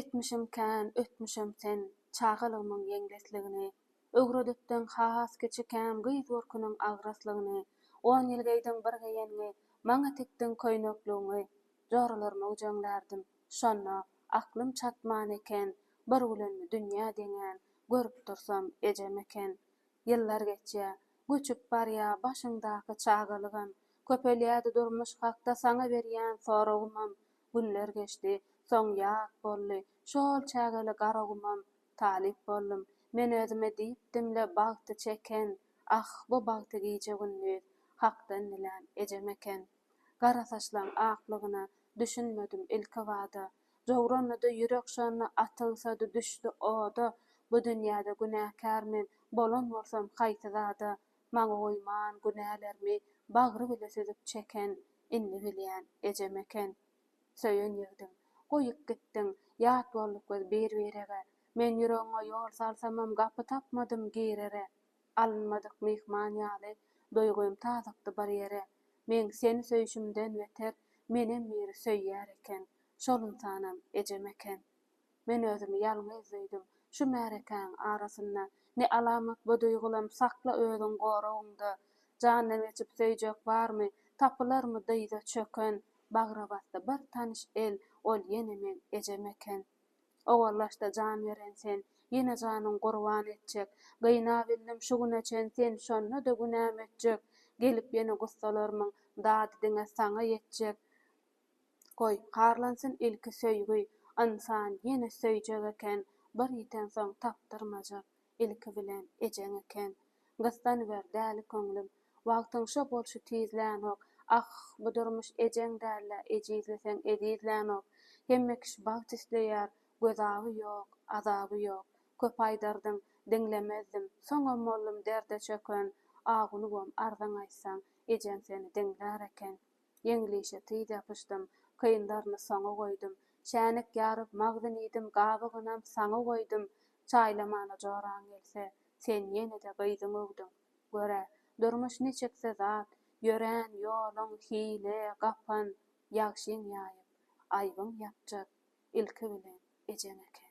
Etmişim kän, ötmüşem sen, Çagalygymyň ýeňlesligini. Öwredipdiň has kiçikäm Gyz görküniň agraslygyny. On ýyl geýdiň bir geýengi, Maňa tikdiň köýnekligiňi. Joralaryma güjeňlärdim, şonda, Aklym çatman eken, Bir gülenmi dünýä deňän, Görüp dursam, ejem eken. Ýyllar geçýä, göçüp barýa Başyňdaky çagalygam. Köpelýädi durmuş hakda Saňa berýän soragymam. Günler geçdi. Soň ýat boldy. Şol çägeli Garagumam talyp boldum. Men özüme diýipdim-le bagty çeken, ah, bu bagty gije-gündiz Hakdan dilän ejem eken. Garasaçlaň aklygyna düşünmedim ilkibada. Jowranydy ýürek şonda atygysady düşdi oda. Bu dünýäde günäkär men, bolan bolsam haýsy zada? Maňa goýman günälermi bagry bile süzüp çeken Indi bilýän, ejem eken. Söýen ýigdim. Goýup gitdiň, ýat bolduk biz bir-birege. Men ýüregiňe ýol salsamam gapy tapmadym girere. Alynmadyk myhman ýaly, duýgym tazykdy bir ýere. Meň seni söýşümden beter, menem biri söýýär eken. Şol ynsanam, ejem eken. Men özümi ýalňyz duýdum. Şu märekäň arasynda ne alamat bu duýgulam sakla özüň goragyňda. Jandan geçip söýjek barmy, tapylarmy dyza çöken. Bagra basdy bir tanyş el, ol ýene meň ejem eken. Owallaş-da jan beren sen, ýene janyň gurban etjek. Gynabildim şu güne çen sen şonda-da günäm ötjek. Gelip ýene gussalarmyň dady diňe saňa ýetjek. Goý, harlansyn ilki söýgi, Ynsan ýene söýjek eken, Bir ýitensoň tapdyrmajak, Ilki bilen ejeň eken. Gyssanyber, däli köňlüm, Wagtyň şo bolşy tizlänok, Ah, bu durmuş ejeň däl-ä, Ejizleseň ezizlänok. Hemme kişi bagt isleýär, Gözaby ýok, azaby ýok. Köp aýdardyň, diňlemezdim, Soňam boldum derde çöken. Agulubam arzaň aýtsaň, Ejeň seni diňlär eken. Ýeňlişe tiz ýapyşdym, Kyndaryny soňa goýdum. Çäýnek ýaryp magdyn iýdim, Gabygynam saňa goýdum. Çaýlamana joraň gelse, Sen ýene-de gyzyň öwdüň. Gör-ä, durmuş niçiksi zat, Ýörän ýoluň, hile, gapan, Ýagşyň ýaýyp, aýbyň ýapjak, Ilki bilen, ejeň eken.